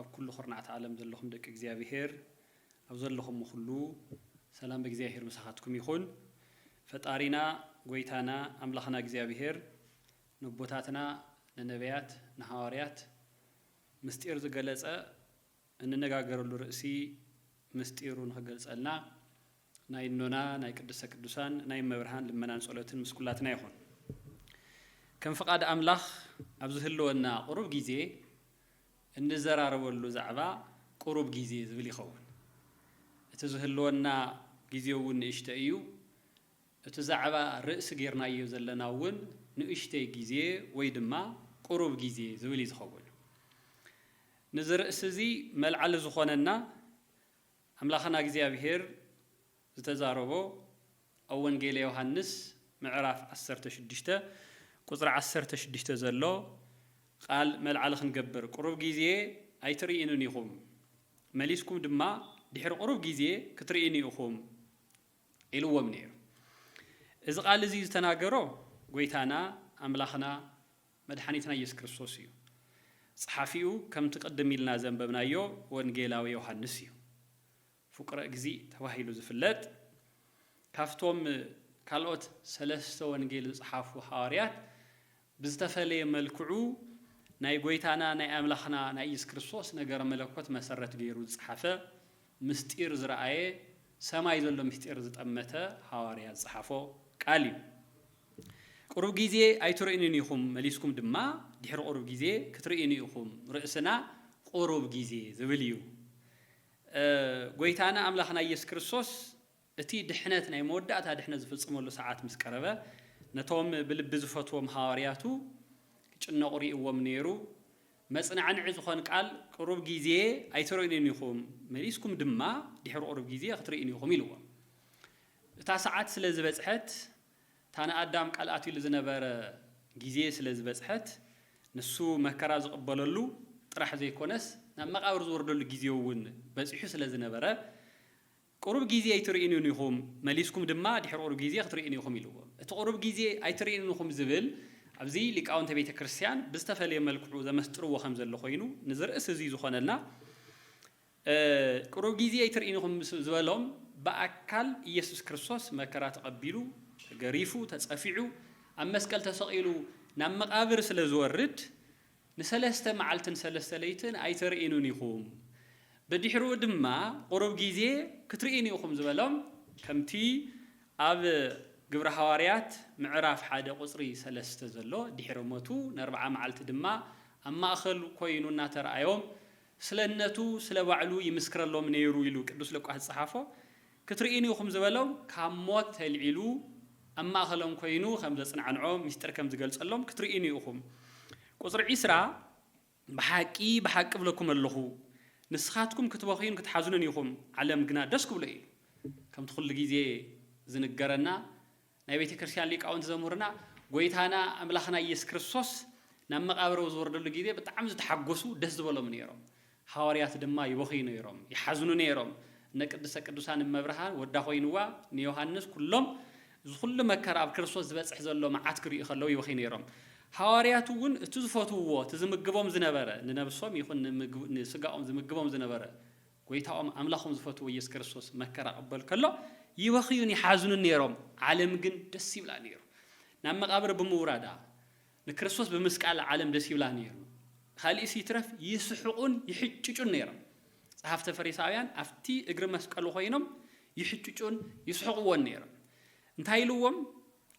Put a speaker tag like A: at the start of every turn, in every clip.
A: ኣብ ኩሉ ኩርናዓት ዓለም ዘለኹም ደቂ እግዚኣብሄር ኣብ ዘለኹሞ ኩሉ ሰላም በእግዚኣብሄር ምሳኻትኩም ይኹን ፈጣሪና ጎይታና ኣምላኽና እግዚኣብሄር ነቦታትና ንነብያት ንሃዋርያት ምስጢር ዝገለጸ እንነጋገረሉ ርእሲ ምስጢሩ ንኽገልጸልና ናይ እኖና ናይ ቅድስተ ቅዱሳን ናይ እመብርሃን ልመናን ጸሎትን ምስ ኩላትና ይኹን። ከም ፍቃድ ኣምላኽ ኣብ ዝህልወና ቁሩብ ግዜ እንዘራረበሉ ዛዕባ ቁሩብ ግዜ ዝብል ይኸውን። እቲ ዝህልወና ግዜ እውን ንእሽተይ እዩ። እቲ ዛዕባ ርእሲ ጌርናዮ ዘለና እውን ንእሽተይ ግዜ ወይ ድማ ቁሩብ ግዜ ዝብል እዩ ዝኸውን። ንዚ ርእሲ እዚ መልዓሊ ዝኾነና ኣምላኽና እግዚኣብሄር ዝተዛረቦ ኣብ ወንጌለ ዮሃንስ ምዕራፍ ዓሰርተ ሽዱሽተ ቁጽሪ ዓሰርተ ሽዱሽተ ዘሎ ቓል መልዓሊ ክንገብር ቁሩብ ጊዜ ኣይትርኢኑን ኢኹም መሊስኩም ድማ ድሕሪ ቁሩብ ጊዜ ክትርኢኑ ኢኹም ኢልዎም ነይሩ እዚ ቓል እዚ ዝተናገሮ ጎይታና ኣምላኽና መድሓኒትና ኢየሱስ ክርስቶስ እዩ። ጸሓፊኡ ከምቲ ቅድም ኢልና ዘንበብናዮ ወንጌላዊ ዮሃንስ እዩ። ፍቁረ እግዚእ ተባሂሉ ዝፍለጥ ካብቶም ካልኦት ሰለስተ ወንጌል ዝጸሓፉ ሓዋርያት ብዝተፈለየ መልክዑ ናይ ጎይታና ናይ ኣምላኽና ናይ ኢየሱስ ክርስቶስ ነገረ መለኮት መሰረት ገይሩ ዝጸሓፈ ምስጢር ዝረኣየ ሰማይ ዘሎ ምስጢር ዝጠመተ ሃዋርያ ዝጸሓፎ ቃል እዩ። ቁሩብ ግዜ ኣይትርእዩንን ኢኹም መሊስኩም ድማ ድሕሪ ቁሩብ ግዜ ክትርእዩኒ ኢኹም ርእስና ቁሩብ ግዜ ዝብል እዩ። ጎይታና ኣምላኽና ኢየሱስ ክርስቶስ እቲ ድሕነት ናይ መወዳእታ ድሕነት ዝፍጽመሉ ሰዓት ምስ ቀረበ፣ ነቶም ብልቢ ዝፈትዎም ሃዋርያቱ ክጭነቑ ርእይዎም ነይሩ። መጽናዕንዒ ዝኾን ቃል ቅሩብ ጊዜ ኣይትርእዩኒን ኢኹም፣ መሊስኩም ድማ ድሕሪ ቅሩብ ጊዜ ክትርእዩኒ ኢኹም ኢልዎም። እታ ሰዓት ስለ ዝበጽሐት፣ እታ ንኣዳም ቃል ኣትዩሉ ዝነበረ ጊዜ ስለ ዝበጽሐት፣ ንሱ መከራ ዝቕበለሉ ጥራሕ ዘይኮነስ ናብ መቓብር ዝወርደሉ ጊዜ'ውን በጺሑ ስለ ዝነበረ፣ ቁሩብ ግዜ ኢትርእዩንን ኢኹም፣ መሊስኩም ድማ ድሕሪ ቁሩብ ግዜ ክትርእዩኒ ኢኹም ኢልዎ። እቲ ቁሩብ ግዜ ኣይትርእዩንን ኢኹም ዝብል ኣብዚ ሊቃውንተ ቤተ ክርስቲያን ብዝተፈለየ መልክዑ ዘመስጥርዎ ከም ዘሎ ኮይኑ ንዚ ርእሲ እዚ ዝኾነልና ቁሩብ ግዜ ኣይትርእዩኒ ኢኹም ምስ ዝበሎም ብኣካል ኢየሱስ ክርስቶስ መከራ ተቐቢሉ ተገሪፉ ተጸፊዑ ኣብ መስቀል ተሰቒሉ ናብ መቓብር ስለ ዝወርድ ንሰለስተ መዓልትን ሰለስተ ለይትን ኣይተርእዩንን ኢኹም፣ ብድሕሩ ድማ ቁሩብ ጊዜ ክትርእዩኒ ኢኹም ዝበሎም ከምቲ ኣብ ግብሪ ሃዋርያት ምዕራፍ ሓደ ቁጽሪ ሰለስተ ዘሎ ድሕሪ ሞቱ ነርብዓ መዓልቲ ድማ ኣብ ማእኸል ኮይኑ እናተርኣዮም ስለነቱ ስለባዕሉ ይምስክረሎም ነይሩ ኢሉ ቅዱስ ሉቃስ ዝጸሓፎ ክትርእዩኒ ኢኹም ዝበሎም ካብ ሞት ተልዒሉ ኣብ ማእኸሎም ኮይኑ ከም ዘፅናዕንዖ ምስጢር ከም ዝገልፀሎም ክትርእዩኒ ኢኹም ቁፅሪ ዕስራ ብሓቂ ብሓቂ እብለኩም ኣለኹ ንስኻትኩም ክትበኽዩን ክትሓዝኑን ኢኹም ዓለም ግና ደስ ክብሎ ኢዩ ከምቲ ኩሉ ግዜ ዝንገረና ናይ ቤተ ክርስቲያን ሊቃውንቲ ዘምህሩና ጎይታና ኣምላኽና ኢየሱስ ክርስቶስ ናብ መቃብር ኣብ ዝወርደሉ ጊዜ ብጣዕሚ ዝተሓጎሱ ደስ ዝበሎም ነይሮም ሓዋርያት ድማ ይበኽዩ ነይሮም ይሓዝኑ ነይሮም እነ ቅድስተ ቅዱሳን እመብርሃን ወዳ ኮይንዋ ንዮሐንስ ኩሎም እዚ ኩሉ መከራ ኣብ ክርስቶስ ዝበጽሕ ዘሎ መዓት ክሪኡ ከለው ይበኽዩ ነይሮም ሓዋርያት እውን እቲ ዝፈትውዎ እቲ ዝምግቦም ዝነበረ ንነብሶም ይኹን ንስጋኦም ዝምግቦም ዝነበረ ጐይታኦም ኣምላኾም ዝፈትዎ ኢየሱስ ክርስቶስ መከራ ክቕበል ከሎ ይበኽዩን ይሓዝኑን ነይሮም፣ ዓለም ግን ደስ ይብላ ነይሩ። ናብ መቓብር ብምውራዳ ንክርስቶስ ብምስቃላ ዓለም ደስ ይብላ ነይሩ። ካልእስ ይትረፍ ይስሕቑን ይሕጭጩን ነይሮም። ጸሓፍተ ፈሪሳውያን ኣብቲ እግሪ መስቀሉ ኮይኖም ይሕጭጩን ይስሕቕዎን ነይሮም። እንታይ ኢልዎም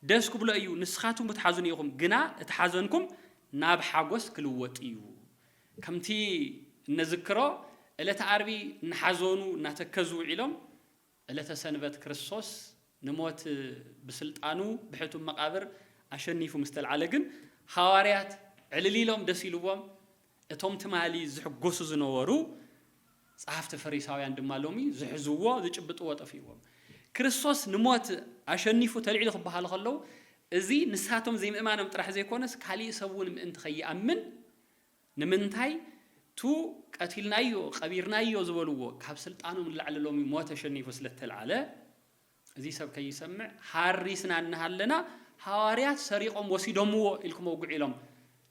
A: ደስ ክብሎ እዩ ንስኻትኩም ክትሓዝኑ ኢኹም ግና እቲ ሓዘንኩም ናብ ሓጐስ ክልወጥ እዩ። ከምቲ እነዝክሮ ዕለተ ዓርቢ እናሓዘኑ እናተከዙ ውዒሎም ዕለተ ሰንበት ክርስቶስ ንሞት ብስልጣኑ ብሕቱም መቓብር ኣሸኒፉ ምስ ተልዓለ ግን ሃዋርያት ዕልል ኢሎም ደስ ኢልዎም እቶም ትማሊ ዝሕጎሱ ዝነበሩ ጸሓፍቲ ፈሪሳውያን ድማ ሎሚ ዝሕዝዎ ዝጭብጥዎ ጠፊእዎም ክርስቶስ ንሞት ኣሸኒፉ ተልዒሉ ክበሃሉ ከለዉ እዚ ንሳቶም ዘይምእማኖም ጥራሕ ዘይኮነስ ካሊእ ሰብ እውን ምእንቲ ከይኣምን ንምንታይ ቱ ቀቲልናዮ ቀቢርናዮ ዝበልዎ ካብ ስልጣኑ ንላዕሊ ሎሚ ሞት ተሸኒፉ ስለ እተልዓለ እዚ ሰብ ከይሰምዕ ሃሪስና እናሃለና ሃዋርያት ሰሪቖም ወሲዶምዎ ኢልኩም ኣውግዑ ኢሎም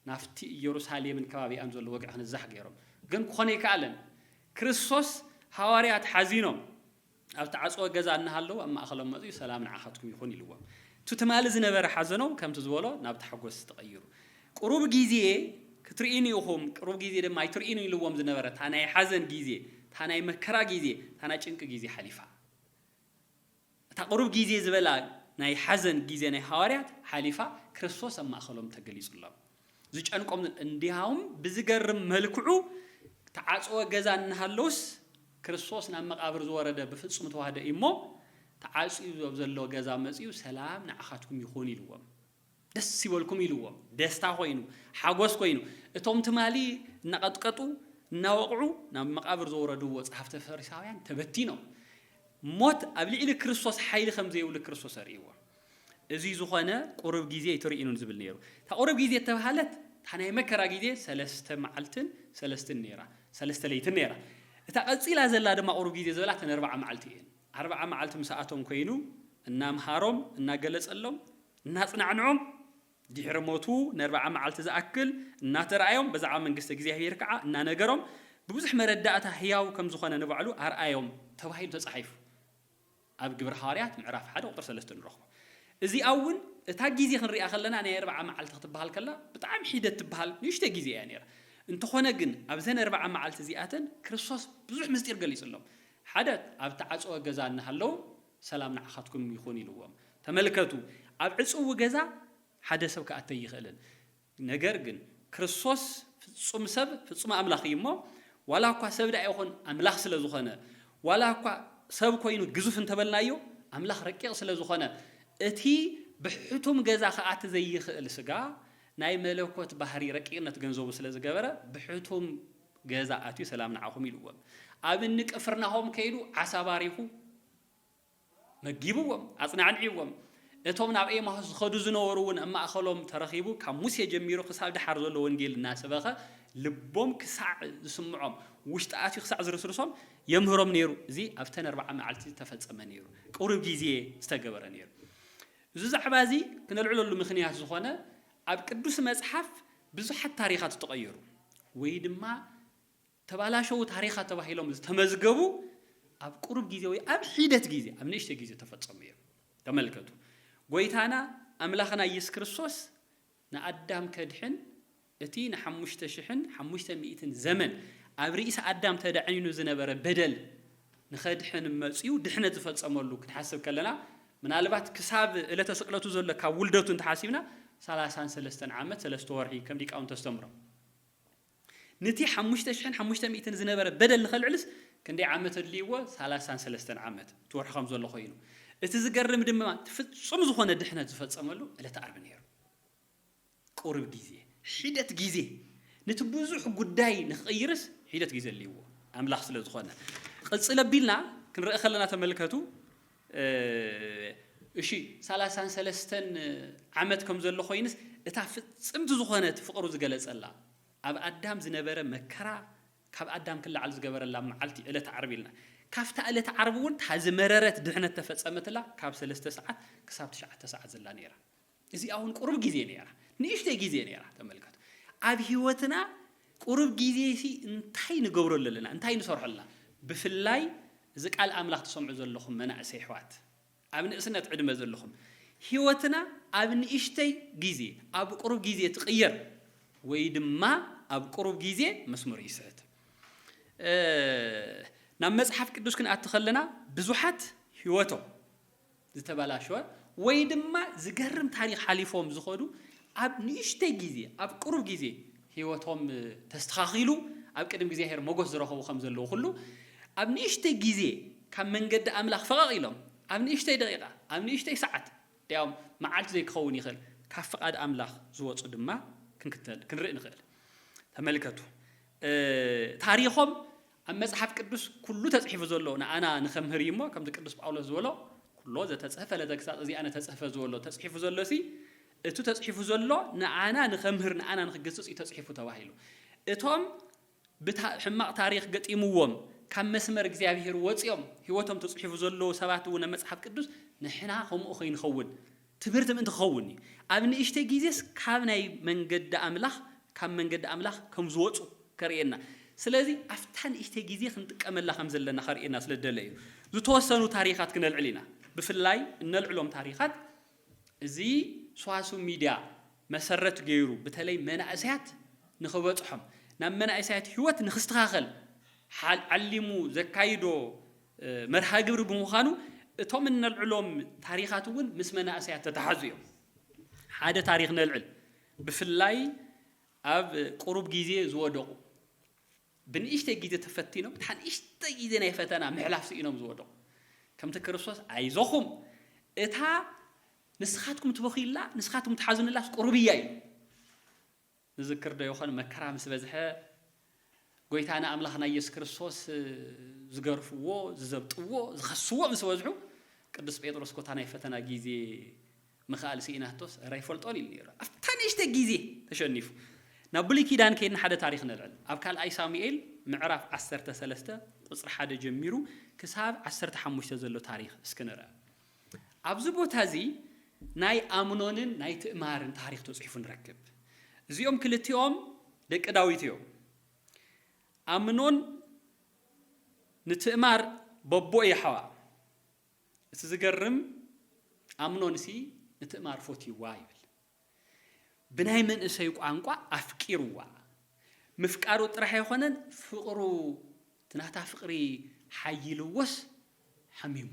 A: ናብቲ ኢየሩሳሌምን ከባቢኣን ዘሎ ወግዒ ክንዛሕ ገይሮም ግን ክኾን ኣይከኣለን ክርስቶስ ሃዋርያት ሓዚኖም ኣብ እተዓጽወ ገዛ እናሃለዉ ኣብ ማእከሎም መጺኡ ሰላም ንዓኻትኩም ይኹን ኢልዎም። እቲ ትማሊ ዝነበረ ሓዘኖም ከምቲ ዝበሎ ናብ ታሕጎስ ተቐይሩ። ቁሩብ ግዜ ክትርእዩኒ ኢኹም ቁሩብ ግዜ ድማ ኣይትርእዩንን ኢልዎም ዝነበረ እታ ናይ ሓዘን ግዜ እታ ናይ መከራ ግዜ እታ ናይ ጭንቂ ግዜ ሓሊፋ። እታ ቁሩብ ግዜ ዝበላ ናይ ሓዘን ግዜ ናይ ሃዋርያት ሓሊፋ ክርስቶስ ኣብ ማእከሎም ተገሊጹሎም። ዝጨንቆም እንዲያውም ብዝገርም መልክዑ ተዓጽወ ገዛ እናሃለወስ ክርስቶስ ናብ መቃብር ዝወረደ ብፍጹም ተዋህዶ እዩ እሞ ተዓጽዩ ኣብ ዘሎ ገዛ መጽዩ ሰላም ንዓኻትኩም ይኹን ኢልዎም ደስ ይበልኩም ኢልዎም ደስታ ኮይኑ ሓጎስ ኮይኑ እቶም ትማሊ እናቐጥቀጡ እናወቕዑ ናብ መቃብር ዘውረድዎ ጸሓፍቲ ፈሪሳውያን ተበቲኖም ሞት ኣብ ልዕሊ ክርስቶስ ሓይሊ ከም ዘይብሉ ክርስቶስ ኣርእይዎም እዚ ዝኾነ ቁሩብ ጊዜ ይትርኢኑን ዝብል ነይሩ። እታ ቁሩብ ጊዜ እተብሃለት እታ ናይ መከራ ጊዜ ሰለስተ መዓልትን ሰለስትን ነይራ፣ ሰለስተ ለይትን ነይራ። እታ ቀጺላ ዘላ ድማ ቁሩብ ጊዜ ዝበላ እተን ኣርብዓ መዓልቲ እየን። ኣርብዓ መዓልቲ ምሳኣቶም ኮይኑ እናምሃሮም፣ እናገለጸሎም፣ እናጽናዕንዖም፣ ድሕሪ ሞቱ ንኣርብዓ መዓልቲ ዝኣክል እናተራኣዮም ብዛዕባ መንግስተ እግዚኣብሄር ከኣ እናነገሮም ብብዙሕ መረዳእታ ህያው ከም ዝኾነ ንባዕሉ ኣርኣዮም ተባሂሉ ተጻሒፉ። ኣብ ግብሪ ሃዋርያት ምዕራፍ ሓደ ቁጽሪ ሰለስተ ንረኽቦ። እዚኣ እውን እታ ጊዜ ክንሪኣ ከለና ናይ ኣርብዓ መዓልቲ ክትበሃል ከላ ብጣዕሚ ሒደት ትበሃል ንእሽተይ ጊዜ እያ ነይራ። እንተኾነ ግን ኣብዘን ኣርብዓ መዓልቲ እዚኣተን ክርስቶስ ብዙሕ ምስጢር ገሊጽሎም። ሓደ ኣብ እተዓጽወ ገዛ እናሃለዉ ሰላም ንዓኻትኩም ይኹን ኢልዎም። ተመልከቱ ኣብ ዕጽዊ ገዛ ሓደ ሰብ ክኣቱ ኣይኽእልን። ነገር ግን ክርስቶስ ፍጹም ሰብ ፍጹም ኣምላኽ እዩ እሞ፣ ዋላ እኳ ሰብ ደኣ ይኹን ኣምላኽ ስለ ዝኾነ፣ ዋላ እኳ ሰብ ኮይኑ ግዙፍ እንተ በልናዮ፣ ኣምላኽ ረቂቕ ስለ ዝኾነ፣ እቲ ብሕቱም ገዛ ክኣቲ ዘይኽእል ስጋ ናይ መለኮት ባህሪ ረቂቕነት ገንዘቡ ስለ ዝገበረ ብሕቱም ገዛ ኣትዩ ሰላም ንዓኹም ኢልዎም ኣብ እኒ ቅፍርናሆም ከይዱ ዓሳ ባሪኹ መጊብዎም፣ ኣጽናዕንዕዎም፣ እቶም ናብ ኤማሁስ ዝኸዱ ዝነበሩ'ውን ኣብ ማእከሎም ተረኺቡ ካብ ሙሴ ጀሚሩ ክሳብ ደሓር ዘሎ ወንጌል እናሰበኸ ልቦም ክሳዕ ዝስምዖም ውሽጢ ኣትዩ ክሳዕ ዝርስርሶም የምህሮም ነይሩ። እዚ ኣብተን ኣርብዓ መዓልቲ ዝተፈጸመ ነይሩ። ቅሩብ ጊዜ ዝተገበረ ነይሩ። እዚ ዛዕባ እዚ ክነልዕለሉ ምኽንያት ዝኾነ ኣብ ቅዱስ መጽሓፍ ብዙሓት ታሪኻት ዝተቐየሩ ወይ ድማ ተባላሸዉ ታሪኻት ተባሂሎም ዝተመዝገቡ ኣብ ቁሩብ ግዜ ወይ ኣብ ሒደት ግዜ ኣብ ንእሽተይ ግዜ ዝተፈጸሙ እዮም። ተመልከቱ ጎይታና ኣምላኽና ኢየሱስ ክርስቶስ ንኣዳም ከድሕን እቲ ንሓሙሽተ ሽሕን ሓሙሽተ ሚእትን ዘመን ኣብ ርእሲ ኣዳም ተዳዕኒኑ ዝነበረ በደል ንኸድሕን መጽዩ ድሕነት ዝፈጸመሉ ክንሓስብ ከለና ምናልባት ክሳብ እለተ ስቅለቱ ዘሎ ካብ ውልደቱ እንተሓሲብና ሰላሳን ሰለስተን ዓመት ሰለስተ ወርሒ ከም ሊቃውንቲ ኣስተምሮ ንቲ ሓሙሽተ ሽሕን ሓሙሽተ ሚእትን ዝነበረ በደል ንኸልዕልስ ክንደይ ዓመት ኣድልይዎ ሳላሳን ሰለስተን ዓመት ትወርሑ ከምዘሎ ኮይኑ እቲ ዝገርም ድማ እቲ ፍጹም ዝኾነ ድሕነት ዝፈጸመሉ ዕለተ ኣርብ ነይሩ ቁሩብ ግዜ ሒደት ግዜ ንቲ ብዙሕ ጉዳይ ንክቕይርስ ሒደት ግዜ ኣድልይዎ ኣምላኽ ስለዝኾነ ቕጽል ኣቢልና ክንርእ ከለና ተመልከቱ እሺ ሳላሳን ሰለስተን ዓመት ከም ዘሎ ኮይንስ እታ ፍጽምቲ ዝኾነት ፍቅሩ ዝገለጸላ ኣብ ኣዳም ዝነበረ መከራ ካብ ኣዳም ክለዓል ዝገበረላ መዓልቲ ዕለተ ዓርቢ ኢልና ካብታ እለት ዓርቢ ውን እታ ዝመረረት ድሕነት ተፈጸመትላ ካብ ሰለስተ ሰዓት ክሳብ ትሽዓተ ሰዓት ዘላ ኔራ እዚኣ ውን ቁሩብ ግዜ ነይራ ንእሽተይ ግዜ ነይራ ተመልከቱ ኣብ ሂወትና ቁሩብ ግዜ ሲ እንታይ ንገብረሉ ኣለና እንታይ ንሰርሖ ኣለና ብፍላይ እዚ ቃል ኣምላኽ ትሰምዑ ዘለኹም መናእሰይ ኣሕዋት ኣብ ንእስነት ዕድመ ዘለኹም ሂወትና ኣብ ንእሽተይ ግዜ ኣብ ቁሩብ ግዜ ትቕየር ወይ ድማ ኣብ ቁሩብ ግዜ መስመሩ ይስሕት ናብ መጽሓፍ ቅዱስ ክንኣቲ ከለና ብዙሓት ሂወቶም ዝተበላሸወ ወይ ድማ ዝገርም ታሪኽ ሓሊፎም ዝኸዱ ኣብ ንእሽተይ ግዜ ኣብ ቅሩብ ግዜ ህይወቶም ተስተኻኺሉ ኣብ ቅድሚ እግዚኣብሔር ሞገስ ዝረኸቡ ከም ዘለዉ ኩሉ ኣብ ንእሽተይ ግዜ ካብ መንገዲ ኣምላኽ ፈቐቕ ኢሎም ኣብ ንእሽተይ ደቂቃ ኣብ ንእሽተይ ሰዓት ድያውም መዓልቲ ዘይክኸውን ይኽእል ካብ ፍቓድ ኣምላኽ ዝወጹ ድማ ክንክተል ክንርኢ ንኽእል ተመልከቱ ታሪኾም ኣብ መጽሓፍ ቅዱስ ኩሉ ተጽሒፉ ዘሎ ንኣና ንከምህር እዩ እሞ ከምቲ ቅዱስ ጳውሎስ ዝበሎ ኩሎ ዘተጽህፈ ለተግሳጽ እዚ ኣነ ተጽህፈ ዝበሎ ተጽሒፉ ዘሎሲ እቱ ተጽሒፉ ዘሎ ንኣና ንከምህር ንኣና ንክግስጽ እዩ ተጽሒፉ ተባሂሉ እቶም ብታ ሕማቅ ታሪኽ ገጢምዎም ካብ መስመር እግዚኣብሄር ወጽዮም ሕይወቶም ተጽሒፉ ዘሎዉ ሰባት እውን ኣብ መጽሓፍ ቅዱስ ንሕና ከምኡ ከይንኸውን ትምህርቲ ምእንቲ ክኸውን እዩ። ኣብ ንእሽተይ ግዜስ ካብ ናይ መንገዲ ኣምላኽ ካብ መንገዲ ኣምላኽ ከም ዝወጹ ከርእየና ስለዚ ኣብታ ንእሽተይ ግዜ ክንጥቀመላ ከም ዘለና ከርእየና ስለ ዝደለ እዩ። ዝተወሰኑ ታሪኻት ክነልዕል ኢና ብፍላይ እነልዕሎም ታሪኻት እዚ ስዋስው ሚድያ መሰረት ገይሩ ብተለይ መናእሰያት ንኽበጽሖም ናብ መናእሰያት ሂወት ንኽስተኻኸል ዓሊሙ ዘካይዶ መርሃ ግብሪ ብምዃኑ እቶም እነልዕሎም ታሪኻት እውን ምስ መናእሰያት ተተሓዙ እዮም። ሓደ ታሪኽ ነልዕል። ብፍላይ ኣብ ቁሩብ ግዜ ዝወደቑ፣ ብንእሽተይ ግዜ ተፈቲኖም እታ ንእሽተይ ግዜ ናይ ፈተና ምሕላፍ ስኢኖም ዝወደቑ፣ ከምቲ ክርስቶስ ኣይዞኹም እታ ንስኻትኩም ትበኽዩላ ንስኻትኩም ትሓዝኑላስ ቁሩብ እያ ኢሉ፣ ንዝክር ዶ ይኾን መከራ ምስ በዝሐ ጎይታና ኣምላኽና ኢየሱስ ክርስቶስ ዝገርፍዎ ዝዘብጥዎ ዝኸስዎ ምስ በዝሑ ቅዱስ ጴጥሮስ ኮታ ናይ ፈተና ጊዜ ምኽኣል ስኢናቶስ እረ ኣይፈልጦን ኢሉ ነይሩ ኣብታ ንእሽተይ ጊዜ ተሸኒፉ ናብ ብሉይ ኪዳን ከይድና ሓደ ታሪኽ ነልዕል ኣብ ካልኣይ ሳሙኤል ምዕራፍ ዓሰርተ ሰለስተ ቁጽሪ ሓደ ጀሚሩ ክሳብ ዓሰርተ ሓሙሽተ ዘሎ ታሪኽ እስኪ ንርኣ ኣብዚ ቦታ እዚ ናይ ኣምኖንን ናይ ትእማርን ታሪኽ ተጽሒፉ ንረክብ። እዚኦም ክልቲኦም ደቂ ዳዊት እዮም። ኣምኖን ንትእማር በቦ የሕዋ። እቲ ዝገርም ኣምኖንሲ ንትእማር ፎትይዋ ይብል። ብናይ መንእሰይ ቋንቋ ኣፍቂርዋ። ምፍቃሩ ጥራሕ ኣይኾነን ፍቕሩ እቲ ናታ ፍቕሪ ሓይልዎስ ሓሚሙ።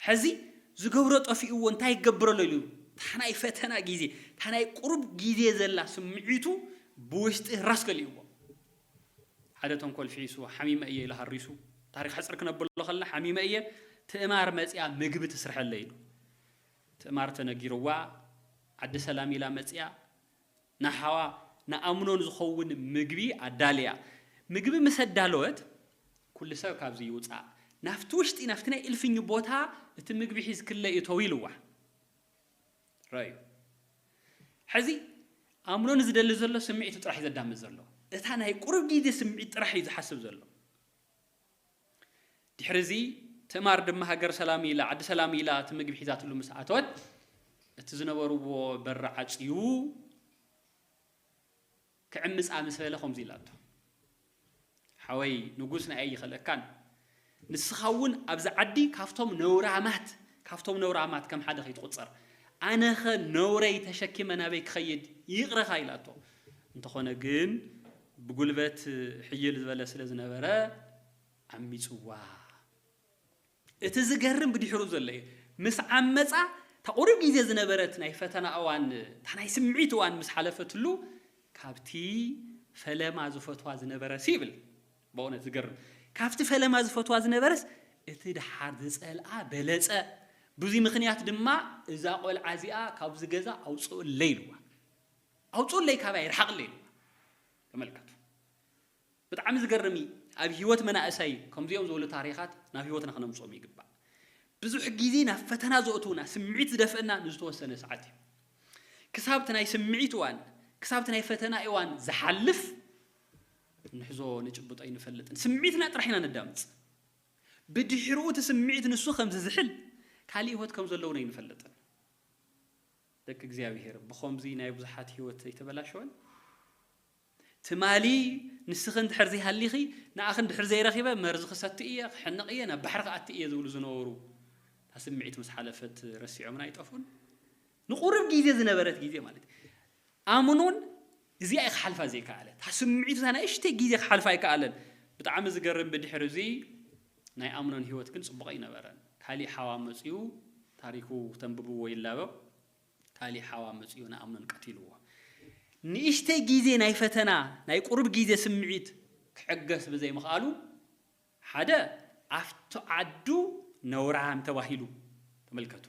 A: ሕዚ ዝገብሮ ጠፊእዎ እንታይ ክገብረሉ ኢሉ እታ ናይ ፈተና ግዜ እታ ናይ ቁሩብ ግዜ ዘላ ስምዒቱ ብውሽጢ ራስ ከሊእዎ። ሓደ ተንኮል ፍሒሱ ሓሚመ እየ ኢሉ ሃሪሱ። ታሪኽ ሕጽር ክነብሎ ከለና ሓሚመ እየ ትእማር መጺኣ ምግቢ ትስርሐለይ ኢሉ። ትእማር ተነጊርዋ ዓዲ ሰላም ኢላ መጺኣ ንሓዋ ንኣምኖን ዝኸውን ምግቢ ኣዳልያ። ምግቢ ምስ ኣዳለወት ኩሉ ሰብ ካብዚ ይውጻእ ናብቲ ውሽጢ ናብቲ ናይ እልፍኝ ቦታ እቲ ምግቢ ሒዝክለይ እቶዊ ኢልዋ። ረኣዩ ሕዚ ኣምኖን ዝደሊ ዘሎ ስምዒቱ ጥራሕ እዩ ዘዳምፅ ዘሎ። እታ ናይ ቁሩብ ግዜ ስምዒት ጥራሕ እዩ ዝሓስብ ዘሎ። ድሕሪዚ ትእማር ድማ ሃገር ሰላም ኢላ፣ ዓዲ ሰላም ኢላ እቲ ምግቢ ሒዛትሉ ምስ ኣተወት፣ እቲ ዝነበርዎ በሪ ዓጽዩ ክዕምጻ ምስ በለ ከምዚ ኢላቶ፣ ሓወይ ንጉስ ንኣይ ኣይኽእለካን፣ ንስኻ እውን ኣብዚ ዓዲ ካብቶም ነውራማት ካብቶም ነውራማት ከም ሓደ ከይትቑጸር፣ ኣነኸ ነውረይ ተሸኪመ ናበይ ክኸይድ ይቕረኻ ኢላቶ፣ እንተኾነ ግን ብጉልበት ሕይል ዝበለ ስለ ዝነበረ ዓሚጽዋ። እቲ ዝገርም ብድሕሩ ዘሎ እዩ። ምስ ዓመጻ እታ ቁሩብ ግዜ ዝነበረት ናይ ፈተና እዋን እታ ናይ ስምዒት እዋን ምስ ሓለፈትሉ ካብቲ ፈለማ ዝፈትዋ ዝነበረሲ ይብል በእውነት ዝገርም ካብቲ ፈለማ ዝፈትዋ ዝነበረስ እቲ ደሓር ዝጸልኣ በለጸ ብዙይ ምኽንያት ድማ እዛ ቆልዓ እዚኣ ካብዚ ገዛ ኣውጽኡለይ ኢልዋ። ኣውጹኡለይ ካባይ ርሓቅለይ ኢልዋ ተመልከቱ ብጣዕሚ ዝገርም እዩ ኣብ ሂወት መናእሰይ ከምዚኦም ዝበሉ ታሪኻት ናብ ሂወትና ክነምጽኦም ይግባእ ብዙሕ ግዜ ናብ ፈተና ዘእትውና ስምዒት ዝደፍእና ንዝተወሰነ ሰዓት እዩ ክሳብቲ ናይ ስምዒት እዋን ክሳብቲ ናይ ፈተና እዋን ዝሓልፍ ንሕዞ ንጭብጦ ኣይንፈልጥን ስምዒትና ጥራሕ ኢና ነዳምጽ ብድሕርኡ እቲ ስምዒት ንሱ ከም ዝዝሕል ካልእ ሂወት ከም ዘለውን ኣይንፈልጥን ደቂ እግዚኣብሄር ብኸምዙይ ናይ ብዙሓት ህይወት ዘይተበላሸወን ትማሊ ንስኺ እንድሕር ዘይሃሊኺ ንኣኺ እንድሕር ዘይረኺበ መርዚ ክሰቲ እየ ክሕነቕ እየ ናብ ባሕሪ ክኣቲ እየ ዝብሉ ዝነበሩ እታ ስምዒት ምስ ሓለፈት ረሲዖምን ኣይጠፍኡን ንቑርብ ግዜ ዝነበረት ግዜ ማለት ኣምኑን እዚኣ እያ ክሓልፋ ዘይከኣለ እታ ስምዒቱ እታ ንእሽተይ ግዜ ክሓልፋ ኣይከኣለን ብጣዕሚ ዝገርም ብድሕሪ እዚ ናይ ኣምኖን ሂወት ግን ጽቡቕ ኣይነበረን ካሊእ ሓዋ መጽዩ ታሪኩ ተንብብዎ ይላበብ ካሊእ ሓዋ መጽዩ ንኣምኖን ቀቲልዎ ንእሽተይ ግዜ ናይ ፈተና ናይ ቁሩብ ግዜ ስምዒት ክዕገስ ብዘይ ምኽኣሉ ሓደ ኣብቲ ዓዱ ነውራም ተባሂሉ ተመልከቱ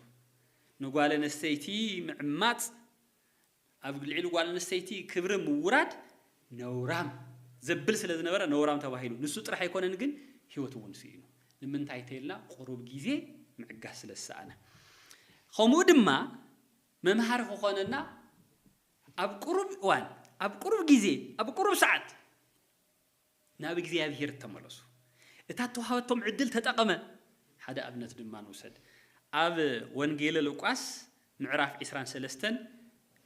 A: ንጓለነስተይቲ ምዕማጽ ኣብ ልዕሊ ጓል ኣንስተይቲ ክብሪ ምውራድ ነውራም ዘብል ስለ ዝነበረ ነውራም ተባሂሉ። ንሱ ጥራሕ ኣይኮነን ግን ህይወቱ እውን ስኢኑ። ንምንታይ ተይልና ቁሩብ ግዜ ምዕጋስ ስለ ዝሰኣነ። ከምኡ ድማ መምሃሪ ክኾነና ኣብ ቁሩብ እዋን፣ ኣብ ቁሩብ ግዜ፣ ኣብ ቁሩብ ሰዓት፣ ናብ እግዚኣብሄር ተመለሱ። እታ እተዋህበቶም ዕድል ተጠቐመ። ሓደ ኣብነት ድማ ንውሰድ። ኣብ ወንጌለ ሉቃስ ምዕራፍ ዕስራን ሰለስተን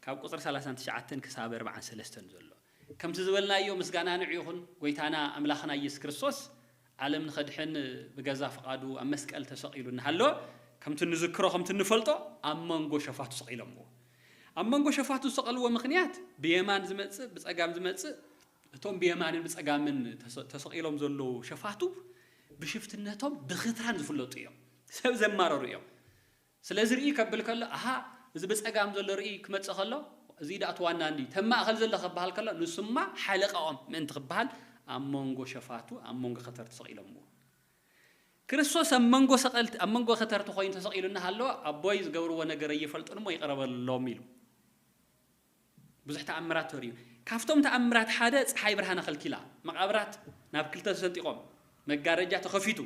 A: ካብ ቁጽሪ ሰላሳን ትሽዓተን ክሳብ ኣርብዓን ሰለስተን ዘሎ ከምቲ ዝበልናዮ ምስጋና ንዑ ይኹን ጎይታና ኣምላኽና ኢየሱስ ክርስቶስ ዓለም ንኸድሕን ብገዛ ፍቓዱ ኣብ መስቀል ተሰቒሉ እናሃሎ ከምቲ ንዝክሮ ከምቲ እንፈልጦ ኣብ መንጎ ሸፋቱ ሰቒሎምዎ። ኣብ መንጎ ሸፋቱ ዝሰቐልዎ ምኽንያት ብየማን ዝመጽእ ብጸጋም ዝመጽእ እቶም ብየማንን ብጸጋምን ተሰቒሎም ዘለዉ ሸፋቱ ብሽፍትነቶም ብኽትራን ዝፍለጡ እዮም። ሰብ ዘማረሩ እዮም። ስለዚ ርእይ ከብል ከሎ ኣሃ እዚ ብጸጋም ዘሎ ርእይ ክመጽእ ከሎ እዚ ዳእቲ ዋና እንዲ ተብ ማእከል ዘሎ ክበሃል ከሎ ንሱማ ሓለቃኦም ምእንቲ ክበሃል ኣብ መንጎ ሸፋቱ ኣብ መንጎ ከተርቲ ተሰቒሎምዎ። ክርስቶስ ኣብ መንጎ ሰቐልቲ ኣብ መንጎ ከተርቲ ኮይኑ ተሰቒሉ እናሃለወ ኣቦይ ዝገብርዎ ነገር ኣይፈልጡን እሞ ይቕረ በሎም ኢሉ። ብዙሕ ተኣምራት ተርእዩ። ካብቶም ተኣምራት ሓደ ጸሓይ ብርሃን ኣኸልኪላ፣ መቓብራት ናብ ክልተ ተሰንጢቖም፣ መጋረጃ ተኸፊቱ።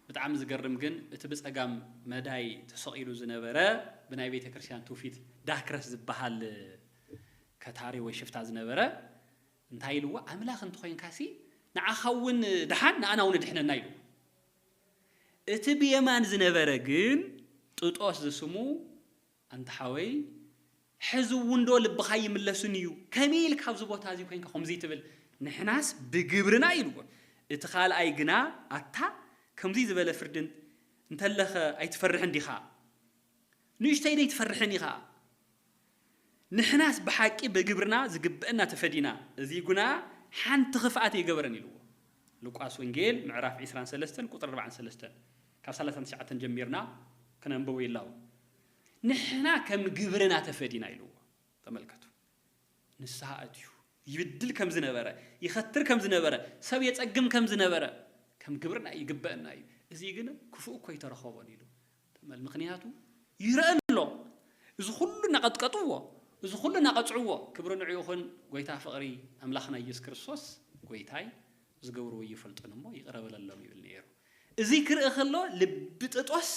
A: ብጣዕሚ ዝገርም ግን እቲ ብጸጋም መዳይ ተሰቒሉ ዝነበረ ብናይ ቤተ ክርስቲያን ትውፊት ዳክረስ ዝበሃል ከታሪ ወይ ሽፍታ ዝነበረ እንታይ ኢልዎ ኣምላኽ እንተኾይንካሲ ንዓኻ እውን ድሓን ንኣና እውን ድሕነና ኢልዎ። እቲ ብየማን ዝነበረ ግን ጥጦስ ዝስሙ ኣንታ ሓወይ ሕዚ እውን ዶ ልብካ ይምለስን እዩ ከመይ ኢልካ ኣብዚ ቦታ እዚ ኮይንካ ከምዙይ ትብል ንሕናስ ብግብርና ኢልዎ እቲ ካልኣይ ግና ኣታ ከምዙይ ዝበለ ፍርዲ እንተለከ ኣይትፈርሕን ዲካ ንእሽተይ ደይትፈርሕን ኢካ ንሕናስ ብሓቂ ብግብርና ዝግበእና ተፈዲና እዚ ጉና ሓንቲ ክፍኣት ኣይገበረን ኢልዎ ሉቃስ ወንጌል ምዕራፍ ዕስራን ሰለስተን ቁጽሪ ኣርባዓን ሰለስተን ካብ ሰላሳን ትሽዓተን ጀሚርና ክነንብቦ ይላቦ ንሕና ከም ግብርና ተፈዲና ኢልዎ ተመልከቱ ንስሓ ኣትዩ ይብድል ከም ዝነበረ ይኸትር ከም ዝነበረ ሰብ የጸግም ከም ዝነበረ ከም ግብርና ይግበእና እዩ እዚ ግን ክፉእ እኮ ኣይተረኸቦን ኢሉ ተመል ምኽንያቱ ይረእ ኣሎ እዚ ኹሉ ናቐጥቀጥዎ እዚ ኹሉ ናቐጽዕዎ ክብሪ ንዑ ይኹን ጎይታ ፍቕሪ ኣምላኽና ኢየሱስ ክርስቶስ ጎይታይ ዝገብርዎ ኣይፈልጡን እሞ ይቕረ በለሎም ይብል ነይሩ እዚ ክርኢ ከሎ ልቢ ጥጦስ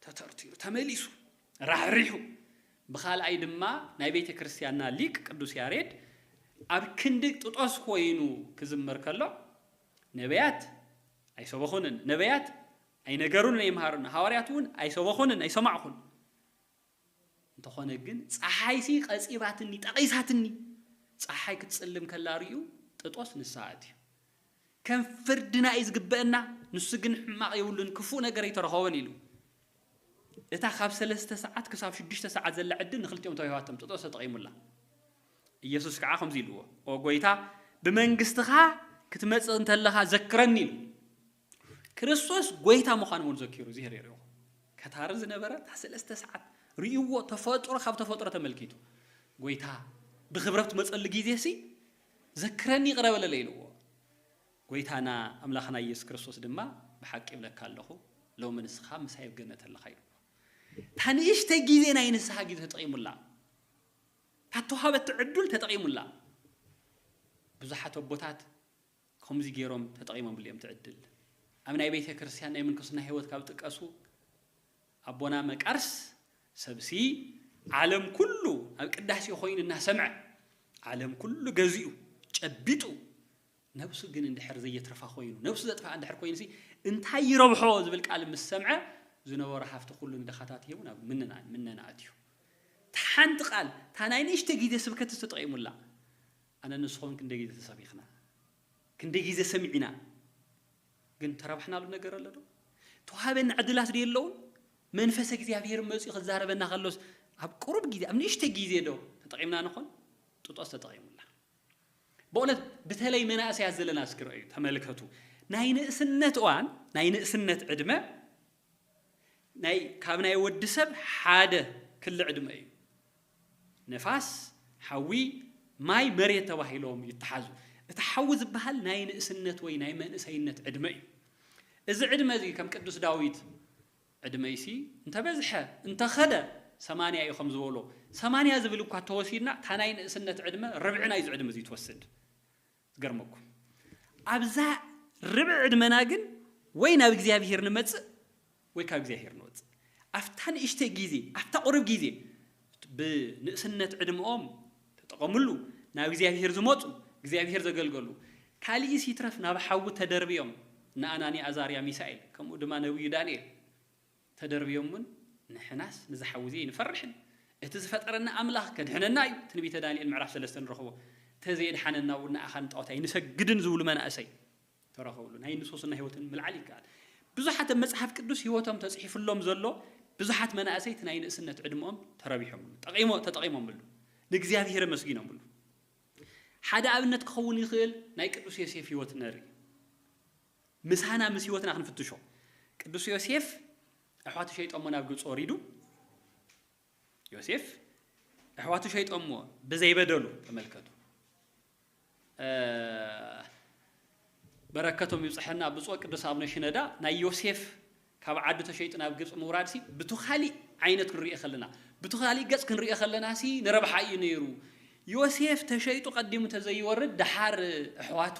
A: ተተርቲሩ ተመሊሱ ራሕሪሑ ብኻልኣይ ድማ ናይ ቤተ ክርስቲያንና ሊቅ ቅዱስ ያሬድ ኣብ ክንዲ ጥጦስ ኮይኑ ክዝምር ከሎ ነቢያት ኣይሰበኹንን ነቢያት ኣይነገሩን ኣይምሃሩን ሃዋርያት እውን ኣይሰበኹንን ኣይሰማዕኹን እንተኾነ ግን ጸሓይሲ ቀጺራትኒ ጠቒሳትኒ ጸሓይ ክትጽልም ከላ ርእዩ ጥጦስ ንስሃ ኣትዩ ከም ፍርድና እዩ ዝግበአና ንሱ ግን ሕማቕ የብሉን ክፉእ ነገር ኣይተረኸቦን ኢሉ እታ ካብ ሰለስተ ሰዓት ክሳብ ሽዱሽተ ሰዓት ዘላ ዕድል ንክልቲኦም ተዋሂባቶም ጥጦስ ተጠቒሙላ ኢየሱስ ከዓ ከምዚ ኢልዎ ኦ ጎይታ ብመንግስትኻ ክትመጽእ እንተለኻ ዘክረኒ ኢሉ ክርስቶስ ጎይታ ምዃኑ እውን ዘኪሩ እግዝሄር የርእኹ ከታሪ ዝነበረ እታ ሰለስተ ሰዓት ርእይዎ ተፈጥሮ ካብ ተፈጥሮ ተመልኪቱ ጎይታ ብክብረት ትመጸሉ ግዜ ሲ ዘክረኒ ይቕረ በለለይ ኢልዎ ጎይታና ኣምላኽና ኢየሱስ ክርስቶስ ድማ ብሓቂ ይብለካ ኣለኹ ሎሚ ንስኻ ምሳይ ኣብ ገነት ኣለኻ ኢልዎ እታ ንእሽተይ ግዜ ናይ ንስሓ ግዜ ተጠቒሙላ እታ ተዋሃበቲ ዕዱል ተጠቒሙላ ብዙሓት ኣቦታት ከምዚ ገይሮም ተጠቒሞምሉ እዮም እቲ ዕድል። ኣብ ናይ ቤተ ክርስቲያን ናይ ምንኩስና ሕይወት ካብ ዝጥቀሱ ኣቦና መቃርስ ሰብሲ ዓለም ኩሉ ኣብ ቅዳሴ ኮይኑ እናሰምዐ ዓለም ኩሉ ገዚኡ ጨቢጡ ነብሱ ግን እንድሕር ዘየትርፋ ኮይኑ ነብሱ ዘጥፍኣ እንድሕር ኮይኑሲ እንታይ ይረብሖ ዝብል ቃል ምስ ሰምዐ ዝነበሮ ሃፍቲ ኩሉ ንድኻታት ሂቡ ናብ ምነና ምነና ኣትዩ እታ ሓንቲ ቃል እታ ናይ ንእሽተ ግዜ ስብከት ዝተጠቒሙላ ኣነ ንስኮም ክንደይ ግዜ ተሰቢክና ክንደይ ግዜ ሰሚዒና ግን ተረብሕናሉ ነገር ኣሎ ዶ ተዋሃበና ዕድላት ዶ የለውን መንፈስ እግዚኣብሄር መጽዩ ክዛረበና ከሎስ ኣብ ቅሩብ ግዜ ኣብ ንእሽተይ ግዜ ዶ ተጠቂምና ንኮን ጥጦስ ተጠቂሙላ በእውነት ብተለይ መናእሰያት ዘለና እስኪ ረኣዩ ተመልከቱ ናይ ንእስነት እዋን ናይ ንእስነት ዕድመ ናይ ካብ ናይ ወዲ ሰብ ሓደ ክሊ ዕድመ እዩ። ነፋስ፣ ሓዊ፣ ማይ፣ መሬት ተባሂሎም ይተሓዙ። እቲ ሓዊ ዝበሃል ናይ ንእስነት ወይ ናይ መንእሰይነት ዕድመ እዩ። እዚ ዕድመ እዚ ከም ቅዱስ ዳዊት ዕድመይሲ እንተበዝሐ እንተኸደ ሰማንያ እዩ ከም ዝበሎ ሰማንያ ዝብል እኳ ተወሲድና እታ ናይ ንእስነት ዕድመ ርብዒ ናይዚ ዕድመ እዚ ትወስድ። ዝገርመኩም ኣብዛ ርብዒ ዕድመና ግን ወይ ናብ እግዚኣብሄር ንመጽእ ወይ ካብ እግዚኣብሄር ንወጽእ ኣብታ ንእሽተይ ግዜ ኣብታ ቁርብ ግዜ ብንእስነት ዕድመኦም ተጠቐምሉ ናብ እግዚኣብሄር ዝመጹ እግዚኣብሄር ዘገልገሉ ካልእስ ይትረፍ ናብ ሓዊ ተደርብዮም ንኣናንያ ኣዛርያ ሚሳኤል ከምኡ ድማ ነብዩ ዳንኤል ተደርብዮም እውን ንሕናስ ንዚ ሓዊ እዚ ኣይንፈርሕን እቲ ዝፈጠረና ኣምላኽ ከድሕነና እዩ ትንቢተ ዳንኤል ምዕራፍ ሰለስተ ንረኽቦ ተዘየድሓነና እውን ንኣኻ ንጣኦት ኣይንሰግድን ዝብሉ መናእሰይ ተረኸብሉ ናይ ንሶስና ህይወትን ምልዓል ይከኣል ብዙሓት ኣብ መፅሓፍ ቅዱስ ህይወቶም ተፅሒፍሎም ዘሎ ብዙሓት መናእሰይ እቲ ናይ ንእስነት ዕድመኦም ተረቢሖምሉ ጠቒሞ ተጠቒሞምሉ ንእግዚኣብሔር ኣመስጊኖምሉ ሓደ ኣብነት ክኸውን ይኽእል ናይ ቅዱስ ዮሴፍ ህይወት ነርኢ። ምሳና ምስ ህይወትና ክንፍትሾ ቅዱስ ዮሴፍ ኣሕዋቱ ሸይጦሞ ናብ ግብፂ ወሪዱ ዮሴፍ ኣሕዋቱ ሸይጦሞ ብዘይበደሉ ተመልከቱ በረከቶም ይብፅሐና ብፁዕ ቅዱስ ኣቡነ ሽነዳ ናይ ዮሴፍ ካብ ዓዱ ተሸይጡ ናብ ግብጺ ምውራድሲ ብቱ ካሊእ ዓይነት ክንሪኦ ከለና ብቱ ካሊእ ገጽ ክንሪኦ ከለናሲ ንረብሓ ኢዩ ነይሩ ዮሴፍ ተሸይጡ ቀዲሙ ተዘይወርድ ደሓር እሕዋቱ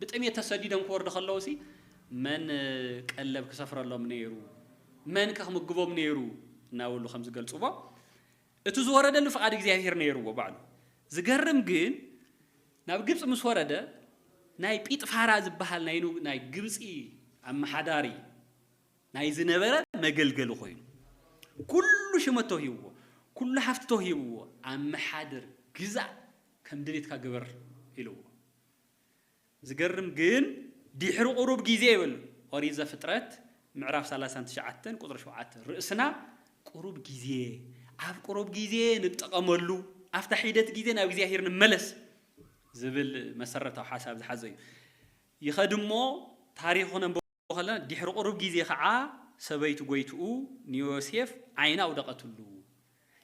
A: ብጥሜት ተሰዲዶም ክወርዱ ከለውሲ መን ቀለብ ክሰፍረሎም ነይሩ መንከ ክምግቦም ነይሩ እናበሉ ከምዝገልጽዎ እቲ ዝወረደሉ ፍቃድ እግዚኣብሄር ነይርዎ ባዕሉ። ዝገርም ግን ናብ ግብጺ ምስ ወረደ ናይ ጲጥፋራ ዝበሃል ናይ ን ናይ ግብጺ ኣመሓዳሪ ናይ ዝነበረ መገልገሊ ኮይኑ ኩሉ ሽመት ተውሂብዎ ኩሉ ሃፍቲ ተውሂብዎ ኣመሓድር ግዛእ ከም ድሌትካ ግበር ኢልዎ። ዝገርም ግን ዲሕሪ ቁሩብ ጊዜ ይብል ኦሪት ዘፍጥረት ምዕራፍ ሰላሳን ትሽዓተን ቁጽሪ ሸውዓተ ርእስና ቁሩብ ጊዜ ኣብ ቁሩብ ጊዜ ንጠቐመሉ ኣብታ ሒደት ጊዜ ናብ እግዚኣብሔር ንመለስ ዝብል መሰረታዊ ሓሳብ ዝሓዘ እዩ ይኸድሞ ታሪኹ ነንብ ከሎ፣ ድሕሪ ቁሩብ ግዜ ኸዓ ሰበይቱ ጎይትኡ ንዮሴፍ ዓይና ኣውደቐትሉ።